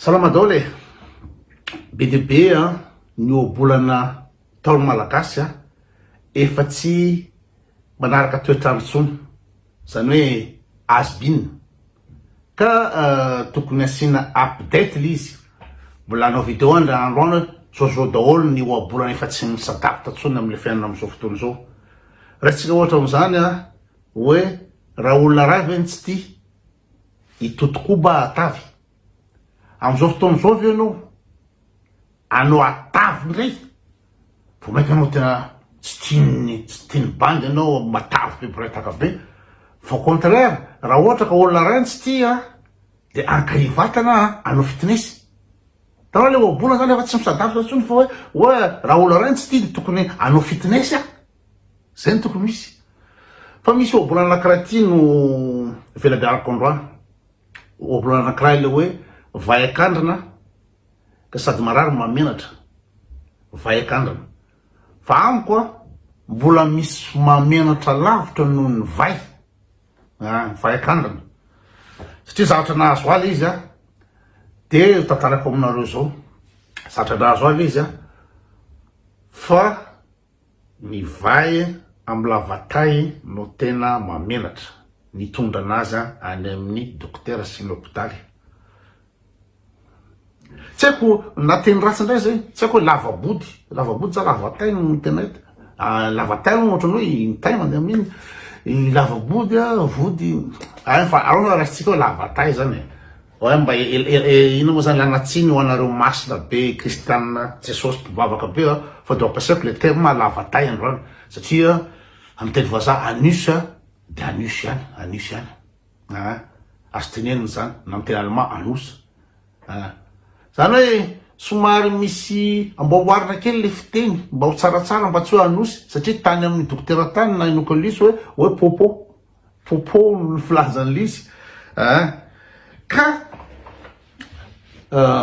Salama daoly e! Be dia be ny ohabolana Ntaolo Malagasy efa tsy manaraka toetr'andro intsony, izany hoe has been, ka tokony asiana update ilay izy, mbola hanao video aho indray andro any hoe zao-zao daholo ny ohabolana efa tsy mi s'adapte intsony amin'ilay fiainana amin'izao fotoana izao. Raisintsika ohatra amin'izany hoe raha olona iray ve no tsy tia? I Toto koa mba atavy? Amin'izao fotoana izao ve ianao anao atavy indray? Vao mainka anao tena tsy tian'ny tsy tian'ny bandy anao matavy be mpiretaka be fa au contraire raha ohatra ka olona iray no tsy tia dia ankahia vatana anao fitness. Hitanao ilay ohabolana izany efa tsy misadapitra intsony fa hoe hoe raha olona iray no tsy tia dia tokony anao fitness. Zay no tokony ho izy. Fa misy ohabolana anankiray ity no velabearako androany. Ohabolana anankiray le hoe vay akandrina ka sady marary no mahamenatra. Vay akandrina. Fa amiko a, mbola misy mahamenatra lavitra noho ny vay. Ah, vay akandrina. Satria zavatra nahazo ahy le izy a, de tantarako aminareo zao. Zavatra nahazo ahy le izy a, fa Ny vay amin'ny lavatay no tena mahamenatra, ny tondrana aza any amin'ny dokotera sy ny hopitaly. Tsy haiko na teny ratsy indray izay, tsy haiko hoe lava-body, lava-body sa lavatay no tena hita? lavatay aloha ohatran'ny hoe ny tay mandeha amin'iny, ny lava-body, vody, hay fa aleo raha raisitsika hoe lavatay izany e. Oay mba inona moa zany lanatsiny ho anareo masina be kristianina jesosy mpivavaka be a fa de ampiasaiko le terme lava tay androany satria am teny vazaha anus de anus ihany anus ihany aa azo tenenina zany na am teny allemand anus aa zany hoe somary misy amboaboarina kely le fiteny mba ho tsaratsara mba tsy hoe anosy satria tany aminy dokotera tany na inokolisy hoe hoe popo Popo ny filazan'i Lisy eh! ka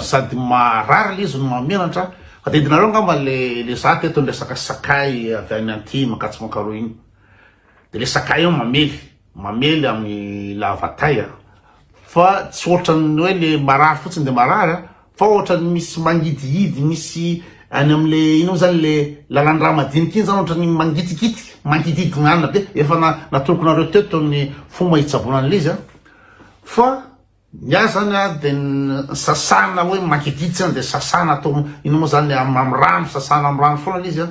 sady marary Lisy no mahamenatra, adidinareo angamba le le za teto ny resaka sakay avy any Antilles mankatso Mankaroa iny, de le sakay io mamely mamely amin'ny lavatay ah! fa tsy ohatran'ny hoe le marary fotsiny de marary a, fa ohatran'ny misy mangidihidy misy any am'le ino moa zany le lalan-drà madiniky iny zany ohatran'ny mangitikitika, mangididignana be, efa na- natoloko anareo teto ny fomba hitsaboana an'le izy a, fa ny ahy zany a de ny sasana hoe mangidihidy zany de sasana atao ino moa zany am- am'rano, sasana am'rano foana le izy a.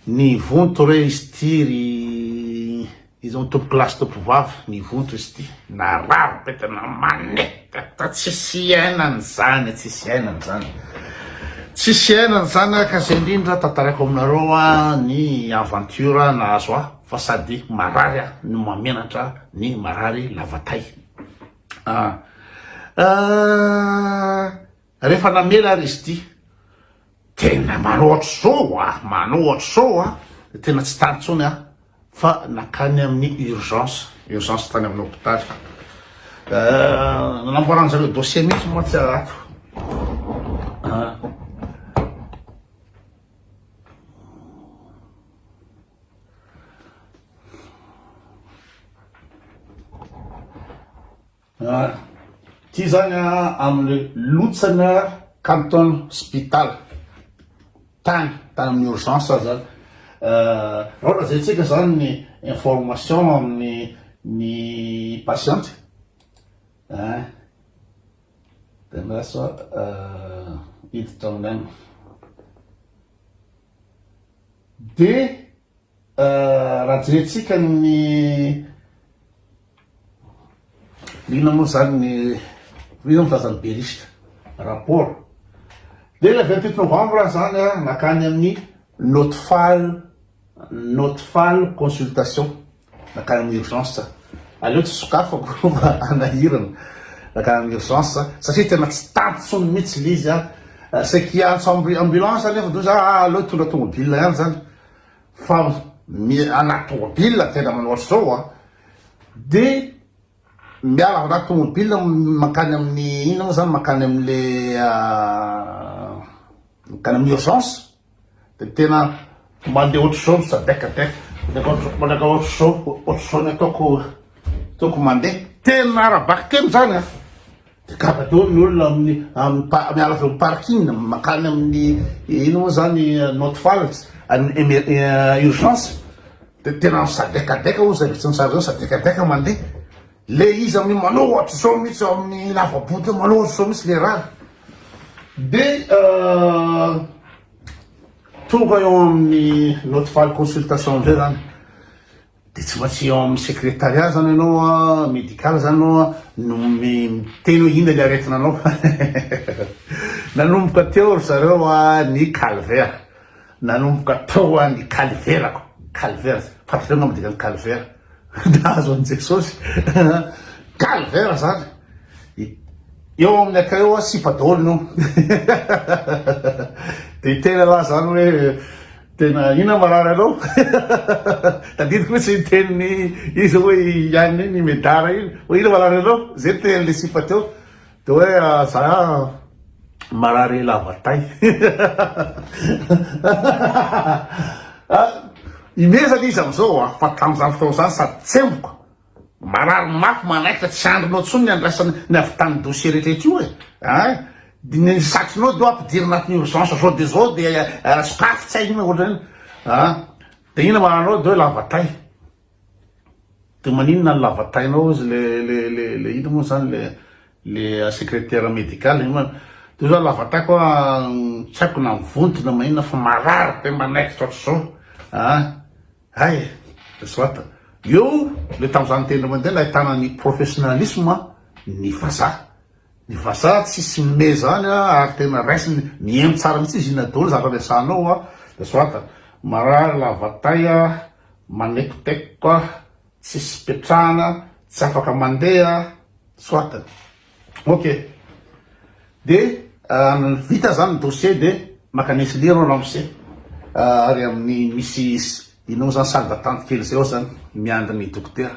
Nivonto re izy ity ry izao tompokolahy sy tompovavy, nivonto izy ity, narary be tena manetta ta tsisy iainana izany, tsisy iainana izany, tsisy iainana izany ah ka zay indrindra tantaraiko aminareo ah ny aventure nahazo ahy fa sady marary aho no mamenatra ny marary lava tay ah ah. Refa namela ary izy ity. Tena manao ohatr'izao a! Manao ohatr'izao a! Tena tsy tany intsony aho fa nankany amin'ny urgence, urgence tany amin'ny hopitaly. Nanamboaran zareo dossier mihitsy mantsy aho ato. Ah. Ty zany am le lotsana Canton spital tany tany am urgence aza zany ah raha zay tsika zany ny information am ny ny patient ah de lasa ah hiditra aminy any. De Raha jerentsika ny inona moa zany ny inona moa zany be risque rapport dia ilay vingt huit novembre zany nankany amin'ny not fal not fal consultation Nankany amin'ny urgence za. Aleo tsy sokafako fa hanahirana. Nankany amin'ny urgence za satria tena tsy tantsony mihitsy le izy a. Saiky hiantso ambulance aho nefa za ah aleo hitondra tomobile ihany zany fa anaty tomobile tena manao ohatr'izao a. De miala avy anaty tomobile mankany amin'ny inona moa zany mankany amin'le mankany amin'ny urgence. Dia tena mandeha ohatr'izao ny sadec dia mandeha ohatr'izao, ohatr'izao ny ataoko ataoko mandeha. Tena ara-bakiteny izany an! Dia gaga daholo ny olona amin'ny amin'ny pa- miala avy amin'ny parking mankany amin'ny ino moa izany Not Falls, any emer- eh, urgence. Dia tena misadekadeka hoy izay vitsy nisaraka izay, misadekadeka mandeha. Le izy amin'ny manao ohatr'izao mihitsy ao amin'ny lava-boty eo, manao ohatr'izao mihitsy le rà. Dia tonga eo amin'ny note file consultation indray zany, dia tsy maintsy eo amin'ny secrétariat zany ianao an, médical zany ianao an, no miteny hoe inona le aretina anao. Nanomboka teo ry zareo an ny calvaire, nanomboka tao an ny kaliverako, calvaire, fantatra angamba ny dikan'ny calvaire. Nahazo an'i Jesosy calvaire zany. Eo amin'ny akay eo a sipa daholo no. Dia tena laha zany hoe tena inona marary anao? Tadidiko mihitsy ny teniny izy hoe ihany ny medara iny. Hoe inona marary anao? Zay ny tenin'ilay sipa teo. Dia hoe za marary lava tay. Imezana izy amin'izao a, fa tamin'izany fotoana izany sady tsemboka, marary mafy, manaitra, tsy andrinao intsony ny andraisana ny avy tamin'ny dossier rehetrarehetra io e, ein! Dia ny satrinao dia hoe ampidiry anatin'ny urgence izao dia izao dia sokafy tsy hay inona ohatr'izany, ein! Dia inona mahanao dia hoe lava tay. De maninona ny lavatainao ozy le le le le inona moa zany le le secretaire medical io ma de za lavataiko a tsy haiko na vonto na maninona fa marary be manaikitra otrzao a hay e soit eo le tamza niteny ry mandeha nahitana ny professionalisme ny vazaha ny vazaha tsisy me zany a ary tena raisiny mihaino tsara mitsy izy inona daholo zaka resahanao a de soit marary lavatay a. Manekoteko ah, tsisy petrahana, tsy afaka mandeha ah, soit. Ok. De vita zany ny dossier de maka ny SLIR ro lance ary amin'ny misy inona moa zany salle d'attente kely zay ao zany miandry ny dokotera.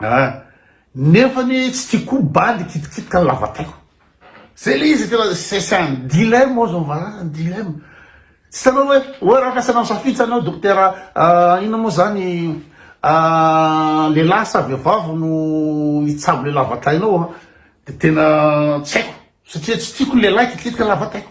Ah nefa anie tsy tiako koa bady kitikitika ny lavataiko. Zay le izy tena sesany dilemme oa zao valala dilemme tsy hitanao hoe hoe raha ampiasaina misafidy zany hoe dokotera inona moa zany lehilahy sa vehivavy no hitsabo le lavatainao de tena tsy haiko satria tsy tiako ny lehilahy kitikitika ny lavataiko.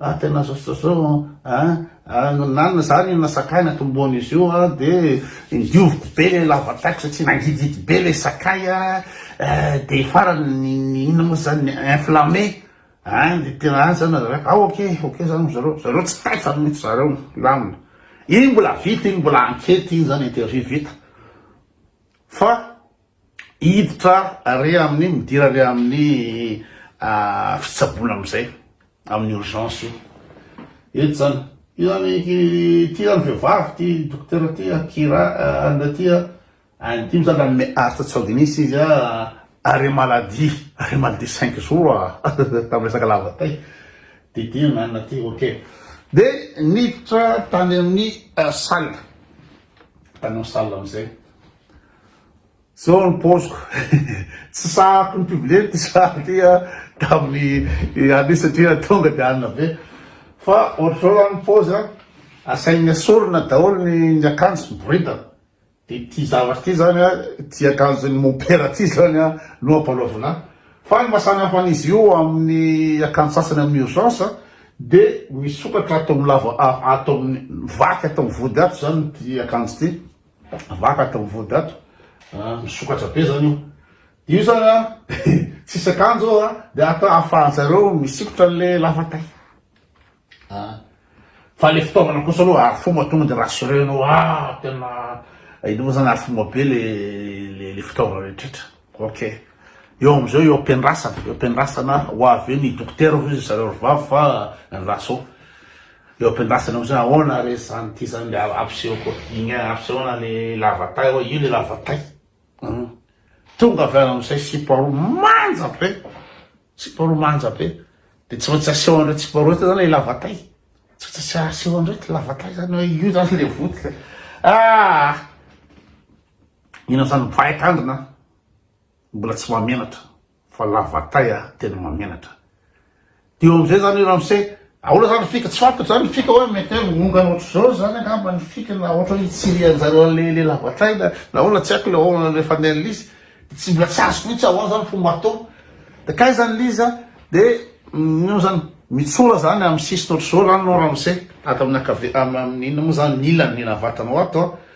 Ah tena zao ah ah na na zany na sakay natombohana izy io ah de dioviko be le lavataiko satria nangidihidy be le sakay ah de farany ny ny inona moa zany inflammé ah de tena ah zany nareo ah ok ok zany ry zareo zareo tsy taitra mihitsy zareo milamina iny mbola vita iny mbola enquete iny zany interview vita fa hiditra ary amin'ny midira ary amin'ny ah, fitsaboana amin'izay amin'ny urgence io eto zany io zany ity zany vehivavy ty dokotera ty akira ah, anle ty ah, any dimy zany anome art tsaoginisy izy a arrêt maladie arrêt maladie cinq jours a tamin'ny resaka lavatay de ty nanana ty ok de niditra tany amin'ny ah, salle tany amin'ny salle amin'izay Zao ny paoziko, tsy sahako ny mpivilely ty za ty a, tamin'ny anio satria tonga dia alina be, fa ohatr'izao zany ny paozy a, asainy asorina daholo ny ny akanjo sy boridana, de ity zavatra ity zany a, ity akanjon'ny mompera ity zany a no ampanaovina ahy, fa ny mahasamy hafa an'izy io amin'ny akanjo sasany amin'ny urgence a, de misokatra ato amin'ny lava, ato amin'ny vaky ato amin'ny vody ato zany ity akanjo ity. Vaka atao vody ato a, misokatra be zany io. Io zany a tsisy akanjo a, de atao ahafahanjareo misikotra anle lavatay a. Fa le fitaovana kosa aloha arofoma tonga de rassurer-nao, ah tena hainao zany arofoma be le le fitaovana rehetra. Ok. Eo amizao eo ampiandrasana, eo ampiandrasana ho avy eo ny dokotera hoy ry zareo ry vavy fa ny laso eo ampiandrasana amizay ahoana re zany ty zany le ampiseho koa igny a ampisehoana le lava tay oa io le lava tay hum tonga avy any amizay sipa roa manja be sipa roa manja be de tsy maintsy aseho an'ireto sipa roa reto zany le lava tay tsy maintsy aseho an'ireto lava tay zany hoe io zany le votika ah Inona zany mpahay tanjona a? Mbola tsy mahamenatra fa lavatay a tena mahamenatra. Dia eo amin'izay zany i Ramse, ahoana zany ny fika? Tsy fantatro zany ny fika hoe mety hoe miongana ohatr'izao zany angamba ny fika na ohatra hoe hitsirian-jareo an'ilay ilay lavatay na na ahoana tsy haiko ilay ahoana ilay fandehan'Liza. Dia tsy mbola tsy azoko mihitsy ahoana zany ny fomba atao. Dia kay zany Liza dia inona zany? Mitsora zany amin'ny sisiny ohatr'izao zany no Ramse ato amin'ny ankavia, amin'ny inona moa zany ny ilany ny navatanao ato a.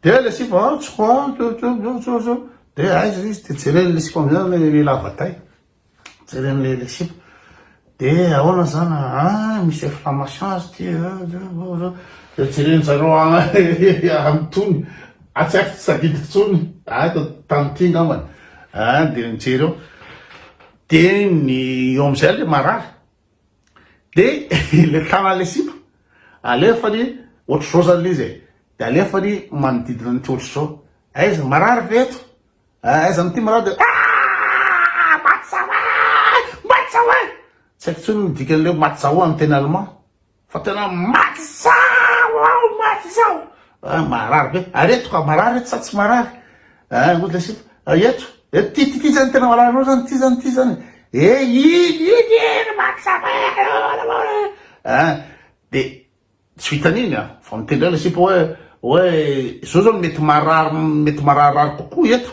Dia ilay sipa a, tso a, tso tso tso tso tso, dia aiza ilay izy, dia jereny ilay sipa amin'izay ilay ilay lava tay, jereny ilay ilay sipa, dia ahoana izany a, ah misy inflammation azy ity a, ah, tso tso tso, dia jereny zareo any tony, ah tsy haiko tsy tadidiko intsony, ah eto Antanimity angambany, ah dia nijery eo, dia ny eo amin'izay ilay marary, De le tanany le sipa alefany ohatr'izao zany le izy e, de alefany manodidina an'ity ohatr'izao, aiza marary ve eto? ah aiza amin'ity marary de aah matsahoay matsahoay, tsy haiko intsony ny dikan'le matsahoa amin'ny teny allemand. Fa tena maty zao aho maty zao ah, marary be ary eto ka marary eto sa tsy marary ah, ngo le sipa ah, eto eto ty ty ty zany tena marary loatra zany ty zany ty zany e eh, iny iny iny maty sa ah, de tsy vitan'iny a ah. fa mitendry le sipa hoe hoe zao zao mety marary mety mararirary kokoa eto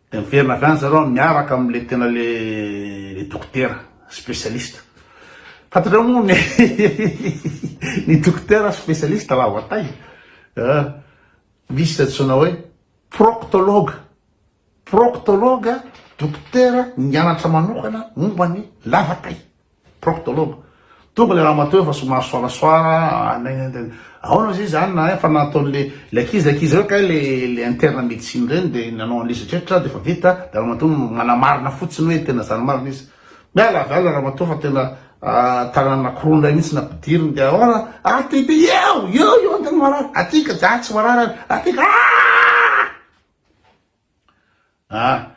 Dia miverina avy any zareo miaraka amin'ilay tena ilay ilay dokotera spécialiste. Fantatrao moa ny ny dokotera spécialiste lava tay ah, misy izay antsoina hoe proctologue. Proctologue dokotera nianatra manokana momba ny lava tay. Proctologue. Tonga le ramatoa efa somary soarasoara nennenn aona ozy izy any na efa nataony le le ankizy le ankizy reo kay le le interne médecine reny de nanao anle izy retretra de efa vita de ramatoa no manamarina fotsiny oe tena zany marina izy miala avy alina ramatoa fa tena tanana nakorony ray mihitsy nampidiriny de aona aty de eo eo eo antena marary aty ka za tsy marary any aty ka aah A,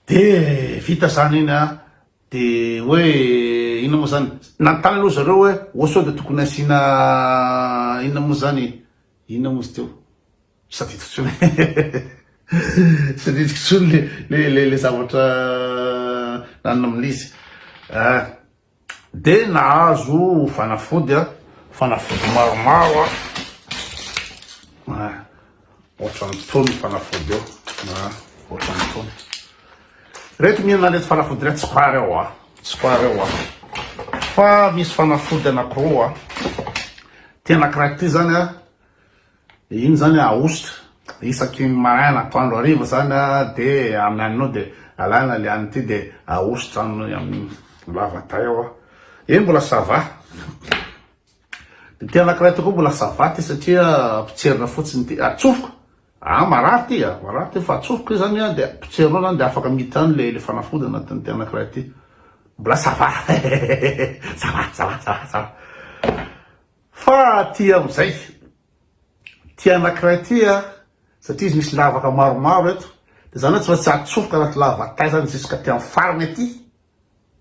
de vita zany iny a, de hoe inona moa zany, nanontany aloha zareo hoe oh sao de tokony asiana inona moa zany e, inona moa izy teo, tsy tadidiko intsony tsy tadidiko intsony le le le zavatra nanona amin'izy a. Dia nahazo fanafody a, fanafody maromaro a, ohatran'itony fanafody io, ohatran'itony. Ireto mihinana ireto fanafody ireto tsy pare ao a, tsy pare ao a. Fa misy fanafody anankiroa, tena anankiray ity zany a, Iny zany ahosotra isaky ny maraina atoandro hariva zany a de amin'ny anonao de alana le anon'ity de ahosotra amin'ny amin'ny lavaday ao a eny mbola ça va ity anakiray ity koa mbola ça va ity satria potserina fotsiny ity atsofoka a marary ity a marary ity fa atsofoka izy zany a de potserinao zany de afaka miditra any le le fanafody anatin'ity anakiray ity mbola ça va ça va ça va ça va ça va. Fa aty amin'izay, ity anankiray ity an, satria izy misy lavaka maromaro eto, dia izany hoe tsy maintsy atsofoka anaty lavataizany ziska aty amin'ny farany aty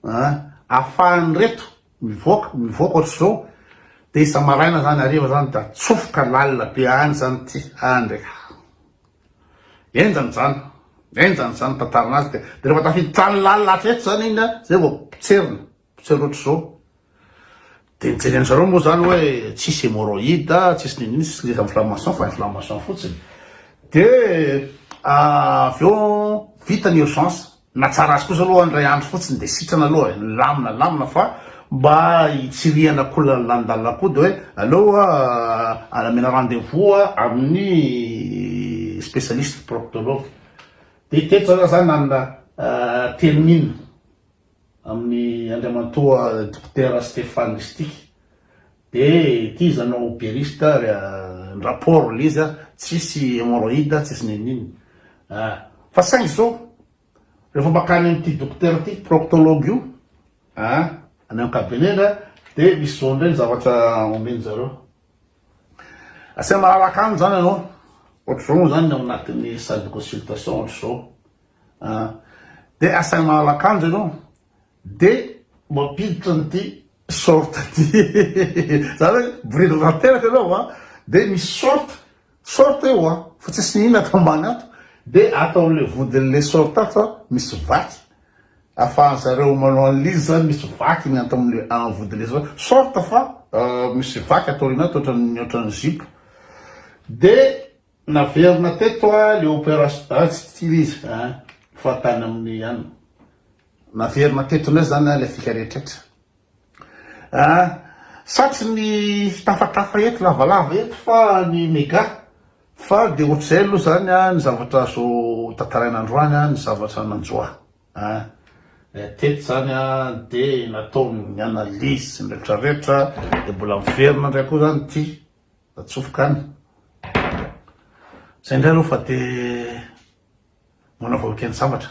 an, ahafahan'ireto mivoaka, mivoaka ohatr'izao, dia isa-maraina izany, hariva izany dia atsofoka lalina be any izany ity, any indray ka. Henjana izany, henjana izany ny tantarana azy, dia rehefa tafiditra any lalina hatreto izany iny an, izay vao potserina. Tsy roatra zao de mijery an zareo moa zany hoe tsisy hémorroïde tsisy nini tsisy les inflammation fa inflammation fotsiny de avy eo vita ny urgence na tsara azy kosa aloha indray andro fotsiny de sitrana aloha e lamina lamina fa mba hitsirihana koa lalandalina koa de hoe aleo alamena rendez vous amin'ny spécialiste proctologue de teto zany zany nanana termine Amin'ny Andriamantoa Dokotera Stéphane Ristic de ity izy anao berista ary rapport le izy tsisy hemorroïde tsisy ninoninona ah fa saingy izao rehefa makany amin'ity dokotera ity proctologue io ah any amin'ny cabinet-ny ah de misy zao indray ny zavatra omen-dry zareo asaina malalaka any zany ianao ohatr'izao moa zany ny ao anatin'ny salle de consultation ohatr'izao Ah. Dia asainy mahala akanjo ianao dia mampiditra an'ity short ity. Zany hoe boridiny tanteraka ianao an, dia misy short, short eo an, fa tsisy na inona ato ambany ato, dia ato amin'ilay vodin'ilay short ato an, misy vaky, afahan'ny zareo manao analyse zany, misy vaky ny ato amin'ilay amin'ny vodin'ilay short, short fa misy vaky ato aoriana ato ohatran'ny ohatran'ny zipo, dia Naverina teto a le operation ah tsy tiana izy a fa tany amin'ny an. Naverina teto indray zany a le fika rehetrretra a sa tsy ny fitafatafa eto lavalava eto fa ny mega fa de ohatr'izay aloha zany a ny zavatra azo tantaraina androany a ny zavatra nanjo ahy a eh, teto zany a de nataony ny analyse sy ny retraretra de mbola miverina indray koa zany ity Atsofoka any. Zay ndray aloha fa te mbola vao ekeny sambatra.